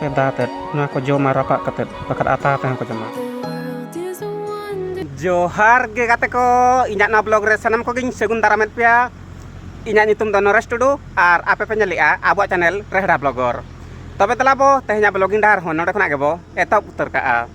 ᱨᱮ ᱫᱟ ᱟᱛᱮᱫ ᱱᱚᱣᱟ ᱠᱚ ᱡᱚᱢᱟ ᱨᱟᱯᱟᱜ ᱠᱟᱛᱮᱫ ᱵᱟᱠᱷᱟᱱ ᱟᱛᱟ ᱟᱛᱮ ᱦᱚᱸᱠᱚ ᱡᱚᱢᱟ ᱡᱚᱦᱟᱨ ᱜᱮ ᱜᱟᱛᱮ ᱠᱚ ᱤᱧᱟᱹᱜ ᱱᱚᱣᱟ ᱵᱞᱚᱜ ᱨᱮ ᱥᱟᱱᱟᱢ ᱠᱚᱜᱮᱧ ᱥᱟᱹᱜᱩᱱ ᱫᱟᱨᱟᱢᱮᱫ ᱯᱮᱭᱟ ᱤᱧᱟᱹᱜ ᱧᱩᱛᱩᱢ ᱫᱚ ᱱᱚᱨᱮᱥ ᱴᱩᱰᱩ ᱟᱨ ᱟᱯᱮ ᱯᱮ ᱧᱮᱞᱮᱜᱼᱟ ᱟᱵᱚᱣᱟᱜ ᱪᱮᱱᱮᱞ ᱨᱮᱦᱲᱟ ᱵᱞᱚᱜᱚᱨ ᱛᱚᱵᱮ ᱫᱮᱞᱟ ᱵᱚ ᱛᱮᱦᱮᱧᱟᱜ ᱵᱞᱚᱜᱤᱝ ᱰᱟᱦᱟᱨ ᱦᱚᱸ ᱱᱚᱰᱮ ᱠᱷᱚᱱᱟᱜ ᱜᱮᱵᱚ ᱮᱛᱚᱦᱚᱵ ᱩᱛᱟᱹᱨ ᱠᱟᱜᱼᱟ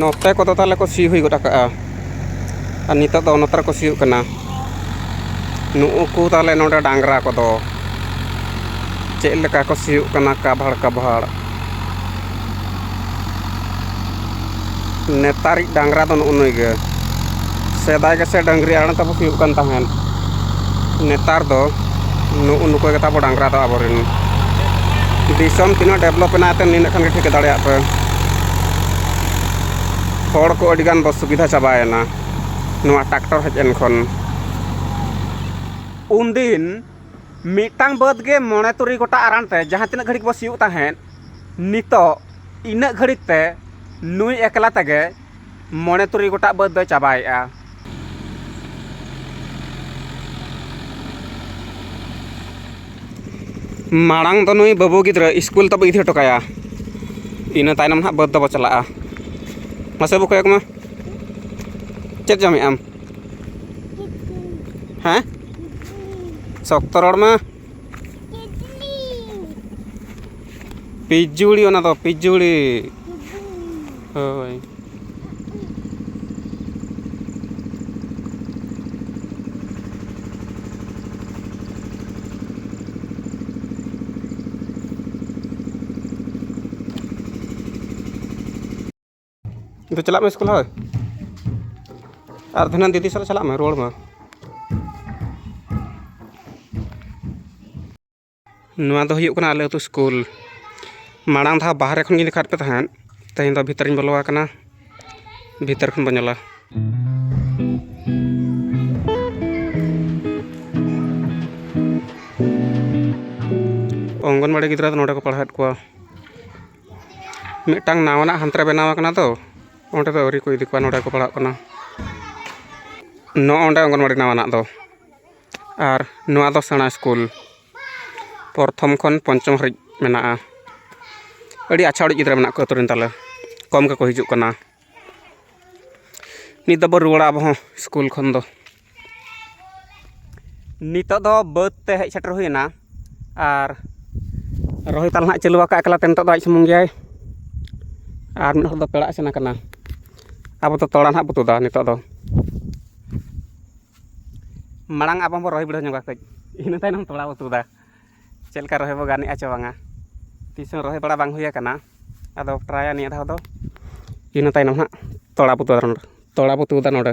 ᱱᱚᱛᱮ ᱠᱚᱫᱚ ᱛᱟᱦᱚᱞᱮ ᱠᱚ ᱥᱤ ᱦᱩᱭ ᱜᱚᱫ ᱠᱟᱜᱼᱟ ᱟᱨ ᱱᱤᱛᱚᱜ ᱫᱚ ᱱᱚᱛᱮ ᱨᱮᱠᱚ ᱥᱤᱭᱳᱜ ᱠᱟᱱᱟ ᱱᱩᱜᱼᱩᱠᱩ ᱛᱟᱦᱚᱞᱮ ᱱᱚᱰᱮ ᱰᱟᱝᱨᱟ ᱠᱚᱫᱚ ᱪᱮᱫ ᱞᱮᱠᱟ ᱠᱚ ᱥᱤᱭᱳᱜ ᱠᱟᱱᱟ ᱠᱟᱵᱷᱟᱲ ᱠᱟᱵᱷᱟᱲ ᱱᱮᱛᱟᱨᱤᱡ ᱰᱟᱝᱨᱟ ᱫᱚ ᱱᱩᱜᱼᱩ ᱱᱩᱭ ᱜᱮ ᱥᱮᱫᱟᱭ ᱜᱮᱥᱮ ᱰᱟᱹᱝᱨᱤ ᱟᱲᱟᱝ ᱛᱮᱵᱚ ᱥᱤᱭᱳᱜ ᱠᱟᱱ ᱛᱟᱦᱮᱱ ᱱᱮᱛᱟᱨ ᱫᱚ ᱱᱩᱜ ᱩ ᱱᱩᱠᱩ ᱜᱮᱛᱟ ᱵᱚᱱ ᱰᱟᱝᱨᱟ ᱫᱚ ᱟᱵᱚ ᱨᱮᱱ ᱫᱤᱥᱚᱢ ᱛᱤᱱᱟᱹᱜ ᱰᱮᱵᱷᱞᱚᱯ ᱮᱱᱟ ᱮᱱᱛᱮᱫ ᱱᱤᱱᱟᱹᱜ ᱠᱷᱟᱱ ᱜᱮ ᱴᱷᱤᱠᱟᱹ ᱫᱟᱲᱮᱭᱟᱜ ᱯᱮ ᱦᱚᱲ ᱠᱚ ᱟᱹᱰᱤ ᱜᱟᱱ ᱵᱚ ᱥᱩᱵᱤᱫᱷᱟ ᱪᱟᱵᱟᱭᱮᱱᱟ ᱱᱚᱣᱟ ᱴᱨᱟᱠᱴᱚᱨ ᱦᱮᱡ ᱮᱱ ᱠᱷᱚᱱ ᱩᱱ ᱫᱤᱱ ᱢᱤᱫᱴᱟᱝ ᱵᱟᱹᱫᱽ ᱜᱮ ᱢᱚᱬᱮ ᱛᱩᱨᱩᱭ ᱜᱚᱴᱟᱝ ᱟᱲᱟᱝ ᱛᱮ ᱡᱟᱦᱟᱸ ᱛᱤᱱᱟᱹᱜ ᱜᱷᱟᱹᱲᱤᱡ ᱵᱚ ᱥᱤᱭᱳᱜ ᱛᱟᱦᱮᱸᱫ ᱱᱤᱛᱚᱜ ᱤᱱᱟᱹᱜ ᱜᱷᱟᱹᱲᱤᱡ ᱛᱮ ᱱᱩᱭ ᱮᱠᱞᱟ ᱛᱮᱜᱮ ᱢᱚᱬᱮ ᱛᱩᱨᱩᱭ ᱜᱚᱴᱟᱜ ᱵᱟᱹᱫᱽ ᱫᱚᱭ ᱪᱟᱵᱟᱭᱮᱜᱼᱟ ᱢᱟᱲᱟᱝ ᱫᱚ ᱱᱩᱭ ᱵᱟᱹᱵᱩ ᱜᱤᱫᱽᱨᱟᱹ ᱥᱠᱩᱞ ᱛᱟᱵᱚ ᱤᱫᱤ ᱦᱚᱴᱚ ᱠᱟᱭᱟ ᱤᱱᱟᱹ ᱛᱟᱭᱱᱚᱢ ᱦᱟᱸᱜ ᱵᱟᱹᱫᱽ ᱫᱚᱵᱚ ᱪᱟᱞᱟᱜᱼᱟ ᱢᱟᱥᱮ ᱵᱟᱹᱵᱩ ᱠᱚᱭᱚᱜᱽ ᱢᱮ ᱪᱮᱫ ᱡᱚᱢᱮᱜ ᱟᱢ ᱦᱮᱸ ᱥᱚᱠᱛᱚ ᱨᱚᱲ ᱢᱮ ᱯᱤᱡᱩᱲᱤ ᱚᱱᱟ ᱫᱚ ᱯᱤᱡᱩᱲᱤ ᱦᱳᱭ ᱫᱩ ᱪᱟᱞᱟᱜ ᱢᱮ ᱥᱠᱩᱞ ᱦᱳᱭ ᱟᱨ ᱫᱷᱤᱱᱟᱹᱱ ᱫᱤᱫᱤ ᱥᱟᱞᱟᱜ ᱪᱟᱞᱟᱜ ᱢᱮ ᱨᱩᱣᱟᱹᱲ ᱢᱮ ᱱᱚᱣᱟ ᱫᱚ ᱦᱩᱭᱩᱜ ᱠᱟᱱᱟ ᱟᱞᱮ ᱟᱹᱛᱩ ᱥᱠᱩᱞ ᱢᱟᱲᱟᱝ ᱫᱷᱟᱣ ᱵᱟᱦᱨᱮ ᱠᱷᱚᱱ ᱜᱤᱧ ᱫᱮᱠᱷᱟᱣᱟᱫ ᱯᱮ ᱛᱟᱦᱮᱸᱫ ᱛᱮᱦᱮᱧ ᱫᱚ ᱵᱷᱤᱛᱨᱤᱧ ᱵᱚᱞᱚ ᱟᱠᱟᱱᱟ ᱵᱷᱤᱛᱟᱹᱨ ᱠᱷᱚᱱ ᱵᱚᱱ ᱧᱮᱞᱟ ᱚᱝᱜᱚᱱᱣᱟᱲᱤ ᱜᱤᱫᱽᱨᱟᱹ ᱫᱚ ᱱᱚᱰᱮ ᱠᱚ ᱯᱟᱲᱦᱟᱣᱮᱫ ᱠᱚᱣᱟ ᱢᱤᱫᱴᱟᱝ ᱱᱟᱣᱟᱱᱟᱜ ᱦᱟᱱᱛᱮ ᱨᱮ ᱵᱮᱱᱟᱣ ᱠᱟᱱᱟ ᱛᱚ ᱚᱸᱰᱮ ᱫᱚ ᱟᱹᱣᱨᱤ ᱠᱚ ᱤᱫᱤ ᱠᱚᱣᱟ ᱱᱚᱸᱰᱮ ᱠᱚ ᱯᱟᱲᱦᱟᱜ ᱠᱟᱱᱟ ᱱᱚᱜᱼᱚᱸᱭ ᱱᱚᱸᱰᱮ ᱚᱝᱜᱚᱱᱚᱣᱟᱲᱤ ᱱᱟᱣᱟᱱᱟᱜ ᱫᱚ ᱟᱨ ᱱᱚᱣᱟ ᱫᱚ ᱥᱮᱬᱟ ᱥᱠᱩᱞ ᱯᱨᱚᱛᱷᱚᱢ ᱠᱷᱚᱱ ᱯᱚᱧᱪᱚᱢ ᱦᱟᱹᱨᱤᱡ ᱢᱮᱱᱟᱜᱼᱟ ᱟᱹᱰᱤ ᱟᱪᱪᱷᱟ ᱚᱲᱮᱡ ᱜᱤᱫᱽᱨᱟᱹ ᱢᱮᱱᱟᱜ ᱠᱚᱣᱟ ᱟᱹᱛᱩ ᱨᱮᱱ ᱛᱟᱞᱮ ᱠᱚᱢ ᱜᱮᱠᱚ ᱦᱤᱡᱩᱜ ᱠᱟᱱᱟ ᱱᱤᱛ ᱫᱚᱵᱚᱱ ᱨᱩᱣᱟᱹᱲᱟ ᱟᱵᱚ ᱦᱚᱸ ᱥᱠᱩᱞ ᱠᱷᱚᱱ ᱫᱚ ᱱᱤᱛᱚᱜ ᱫᱚ ᱵᱟᱹᱫᱽ ᱛᱮ ᱦᱮᱡ ᱥᱮᱴᱮᱨ ᱦᱩᱭᱱᱟ ᱟᱨ ᱨᱚᱦᱚᱭ ᱛᱟᱞᱦᱮ ᱦᱟᱸᱜ ᱪᱟᱹᱞᱩ ᱟᱠᱟᱫ ᱮᱠᱞᱟᱛᱮ ᱱᱤᱛᱚᱜ ᱫᱚ ᱟᱡ ᱥᱩᱢᱩᱝ ᱜᱮᱭᱟᱭ ᱟᱨ ᱢᱤᱫ ᱦᱚᱲ ᱫᱚ ᱯᱮᱲᱟᱜ ᱮ ᱥᱮᱱ ᱟᱠᱟᱱᱟ ᱟᱵᱚ ᱫᱚ ᱛᱚᱲᱟ ᱦᱟᱸᱜ ᱵᱚ ᱛᱩᱫᱟ ᱱᱤᱛᱚᱜ ᱫᱚ ᱢᱟᱲᱟᱝ ᱟᱵᱚ ᱵᱚ ᱨᱚᱦᱚᱭ ᱵᱤᱰᱟᱹᱣ ᱧᱚᱜᱟ ᱠᱟᱹᱡ ᱤᱱᱟᱹ ᱛᱟᱭᱱᱚᱢ ᱛᱚᱲᱟ ᱵᱚ ᱛᱩᱫᱟ ᱪᱮᱫ ᱞᱮᱠᱟ ᱨᱚᱦᱚᱭ ᱵᱚ ᱜᱟᱱᱮᱜᱼᱟ ᱪᱮ ᱵᱟᱝᱟ ᱛᱤᱥ ᱦᱚᱸ ᱨᱚᱦᱚᱭ ᱵᱟᱲᱟ ᱵᱟᱝ ᱦᱩᱭ ᱟᱠᱟᱱᱟ ᱟᱫᱚ ᱴᱨᱟᱭᱟ ᱱᱤᱭᱟᱹ ᱫᱷᱟᱣ ᱫᱚ ᱤᱱᱟᱹ ᱛᱟᱭᱱᱚᱢ ᱦᱟᱸᱜ ᱛᱚᱲᱟ ᱵᱚ ᱛᱩᱫᱟ ᱛᱚᱲᱟ ᱵᱚ ᱛᱩᱫᱟ ᱱᱚᱰᱮ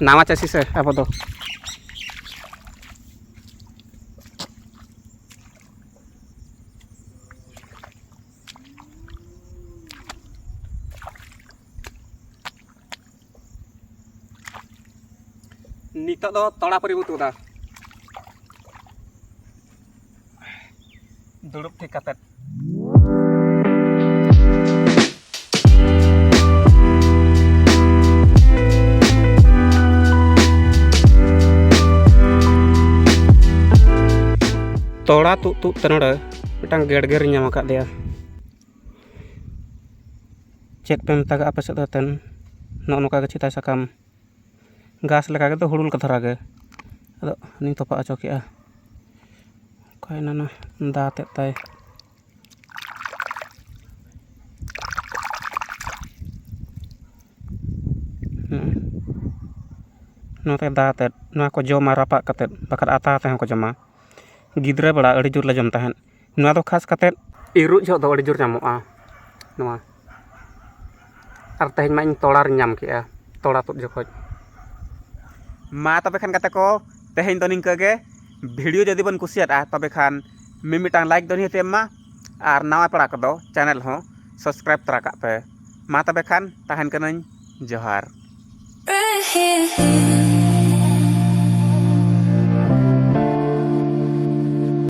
ᱱᱟᱣᱟ ᱪᱟᱹᱥᱤ ᱥᱮ ᱟᱵᱚ ᱫᱚ ᱱᱤᱛᱚᱜ ᱫᱚ ᱛᱚᱲᱟ ᱯᱚᱨᱤ ᱵᱚ ᱛᱩᱫᱟ ᱫᱩᱲᱩᱵ ᱴᱷᱤᱠ ᱠᱟᱛᱮᱫ ᱛᱚᱲᱟ ᱛᱩᱜ ᱛᱩᱜ ᱛᱮ ᱱᱚᱰᱮ ᱢᱤᱫᱴᱟᱝ ᱜᱮᱰᱜᱮᱨᱤᱧ ᱧᱟᱢ ᱟᱠᱟᱫ ᱫᱮᱭᱟ ᱪᱮᱫ ᱯᱮ ᱢᱮᱛᱟᱜᱟᱜᱼᱟ ᱟᱯᱮ ᱥᱮᱫ ᱫᱚ ᱮᱱᱛᱮᱫ ᱱᱚᱜᱼᱚ ᱱᱚᱝᱠᱟ ᱜᱮ ᱪᱮᱫᱟᱜ ᱥᱟᱠᱟᱢ ᱜᱷᱟᱥ ᱞᱮᱠᱟ ᱜᱮᱛᱚ ᱦᱩᱲᱩ ᱞᱮᱠᱟ ᱫᱷᱟᱨᱟ ᱜᱮ ᱟᱫᱚ ᱚᱱᱟᱧ ᱛᱚᱯᱟᱜ ᱦᱚᱪᱚ ᱠᱮᱫᱼᱟ ᱚᱠᱟᱭᱮᱱᱟ ᱱᱟ ᱫᱟ ᱛᱮᱫ ᱛᱟᱭ ᱱᱚᱣᱟ ᱛᱟᱭ ᱫᱟ ᱛᱮᱫ ᱱᱚᱣᱟ ᱠᱚ ᱡᱚᱢᱟ ᱨᱟᱯᱟᱜ ᱠᱟᱛᱮᱫ ᱵᱟᱠᱷᱟᱱ ᱟᱛᱟ ᱟᱛᱮᱫ ᱦᱚᱸᱠᱚ ᱡᱚᱢᱟ ᱜᱤᱫᱽᱨᱟᱹ ᱵᱮᱲᱟ ᱟᱹᱰᱤ ᱡᱳᱨ ᱞᱮ ᱡᱚᱢ ᱛᱟᱦᱮᱸᱫ ᱱᱚᱣᱟ ᱫᱚ ᱠᱷᱟᱥ ᱠᱟᱛᱮᱫ ᱤᱨᱚᱜ ᱡᱚᱦᱚᱜ ᱫᱚ ᱟᱹᱰᱤ ᱡᱳᱨ ᱧᱟᱢᱚᱜᱼᱟ ᱱᱚᱣᱟ ᱟᱨ ᱛᱮᱦᱮᱧ ᱢᱟ ᱤᱧ ᱛᱚᱲᱟ ᱨᱤᱧ ᱧᱟᱢ ᱠᱮᱜᱼᱟ ᱛᱚᱲᱟ ᱛᱩᱫ ᱡᱚᱠᱷᱚᱡ ᱢᱟ ᱛᱚᱵᱮ ᱠᱷᱟᱱ ᱜᱟᱛᱮ ᱠᱚ ᱛᱮᱦᱮᱧ ᱫᱚ ᱱᱤᱝᱠᱟᱹ ᱜᱮ ᱵᱷᱤᱰᱤᱭᱳ ᱡᱩᱫᱤ ᱵᱮᱱ ᱠᱩᱥᱤᱭᱟᱫᱼᱟ ᱛᱚᱵᱮ ᱠᱷᱟᱱ ᱢᱤᱢᱤᱫᱴᱟᱝ ᱞᱟᱭᱤᱠ ᱫᱚ ᱱᱤᱦᱟᱹᱛ ᱮᱢ ᱢᱟ ᱟᱨ ᱱᱟᱣᱟ ᱯᱮᱲᱟ ᱠᱚᱫᱚ ᱪᱮᱱᱮᱞ ᱦᱚᱸ ᱥᱟᱵᱥᱠᱨᱟᱭᱤᱵᱽ ᱛᱚᱨᱟ ᱠᱟᱜ ᱯᱮ ᱢᱟ ᱛᱚᱵᱮ ᱠᱷᱟᱱ ᱛᱟᱦᱮᱱ ᱠᱟᱹᱱᱟᱹᱧ ᱡᱚᱦᱟᱨ